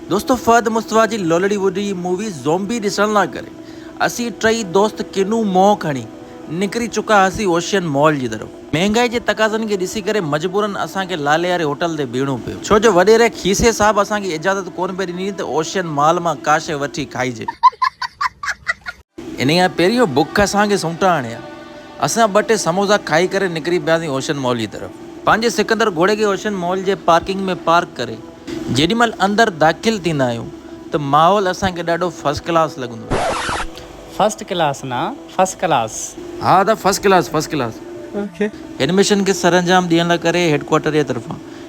دوستو فهد مصطفيٰ جي لولڙي ووڊي مووي زومبي ڏسڻ لا ڪري اسين ٽئي دوست ڪنون منهن کڻي نڪري چڪا هئاسين اوشين مال جي طرف. مهنگائي جي تقاضن کي ڏسي ڪري مجبورن اسان کي لالي واري هوٽل تي بيهڻو پيو ڇو جو وڏيري کيسي صاحب اسان کي اجازت ڪون پئي ڏني ته اوشين مال مان ڪا شيء وٺي کائجي. انهيء کان پهريون بک اسان کي سمٽا هڻي ها. اسان ٻه ٽي سموسا کائي ڪري نڪري پياسين اوشن مال جي طرف. پنهنجي سڪندر گهوڙي کي اوشن مال جي پارڪنگ ۾ پارڪ ڪري جيڏي مهل اندر داخل ٿيندا آهيون ته ماحول اسان کي ڏاڍو فرسٽ ڪلاس لڳندو آهي. فرسٽ ڪلاس نه فسٽ ڪلاس. ها ادا فرسٽ ڪلاس فرسٽ ڪلاس. هن مشن کي سرانجام ڏيڻ لاء ڪري هيڊ ڪوارٽر جي طرفان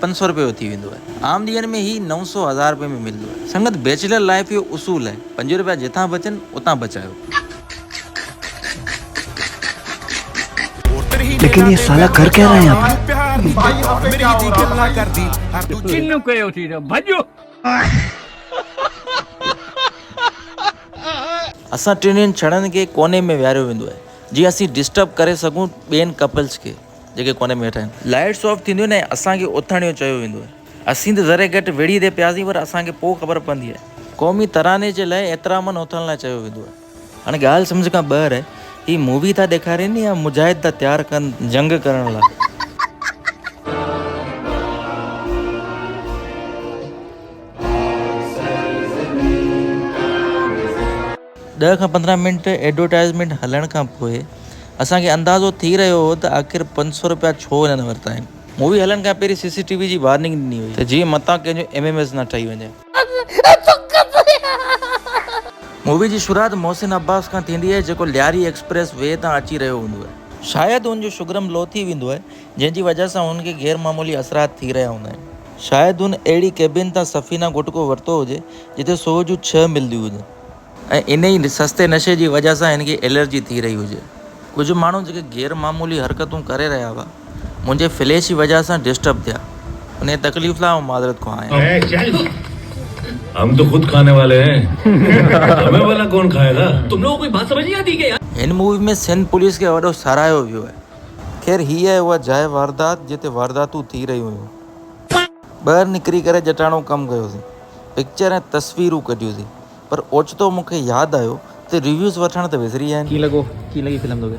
پنج سؤ رپيو ٿي ويندو آهي. عام ڏينهن ۾ هي نو سؤ هزار رپين ۾ ملندو آهي. سنگت بيچلر لائيف جو اصول آهي پنج رپيا جتان بچن اتان بچايو. ليڪن يي سالا ڪر ڪيا رهي يهان پي. اسان ٽنهي ڄڻن کي ڪوني ۾ ويهاريو ويندو آهي جيئن اسين ڊسٽرب ڪري سگهون ٻين ڪپلز کي. جيڪي ڪوني ۾ ويٺا آهن. لائيٽس آف ٿينديون آهن ۽ اسان کي اٿڻ جو چيو ويندو آهي. اسين ته ذري گهٽ ويڙهي تي پياسين پر اسان کي پوء خبر پوندي آهي. قومي تراني جي لاء احترامن اٿڻ لاء چيو ويندو آهي. هاڻي ڳالهه سمجهه کان ٻاهر آهي. هي مووي ٿا ڏيکارين يا مجاهد ٿا تيار ڪن جنگ ڪرڻ لاء. ڏهه کان پندرهن منٽ ايڊورٽائيزمينٽ هلڻ کان پوء اسان کي اندازو ٿي رهيو هو ته آخر پنج سؤ رپيا ڇو هنن ورتا آهن. مووي هلڻ کان پهرين سي سي ٽي وي جي وارننگ ڏني هئي ته جيئن متان ڪنهن جو ايم ايم ايس نه ٺهي وڃي. مووي جي شروعات محسن عباس کان ٿيندي آهي جيڪو لياري ايڪسپريس وي تان اچي رهيو هوندو آهي. شايد هن جو شگرم لو ٿي ويندو آهي جنهن جي وجهه سان هن کي غير معمولي اثرات ٿي رهيا هوندا آهن. شايد هن اهڙي ڪيبن تان سفينه گهٽڪو ورتو هجي جتي سوهه جون ڇهه ملديون هجن. ۽ انهي سستي نشي جي وجهه سان هن کي الرجي ٿي رهي هجي. ڪجهه ماڻهو جيڪي غير معمولي حرڪتون ڪري رهيا هئا، منهنجي فليش جي وجهه سان ڊسٽرب ٿيا. انهي تڪليف لاء آئون معذرت خواهه آهيان. اي چل هم تو خود کاني والي هين همي والا ڪون کائي گا. تم لوگو ڪوئي بات سمجھ نهي آتي هي ڪيا يار. هن مووي ۾ سنڌ پوليس کي وڏو ساراهيو ويو آهي. خير هي آهي اها جاء واردات جتي وارداتون ٿي رهيون هيون. ٻاهر نڪري ڪري جٽاڻو ڪم ڪيوسين. پڪچر ۽ تصويرون ڪڍيوسين. پر اوچتو مون کي ياد آيو ته ريويوز وٺڻ ته وسري ويا آهن. ڪيئن لڳو ڪيئن لڳي فلم توکي.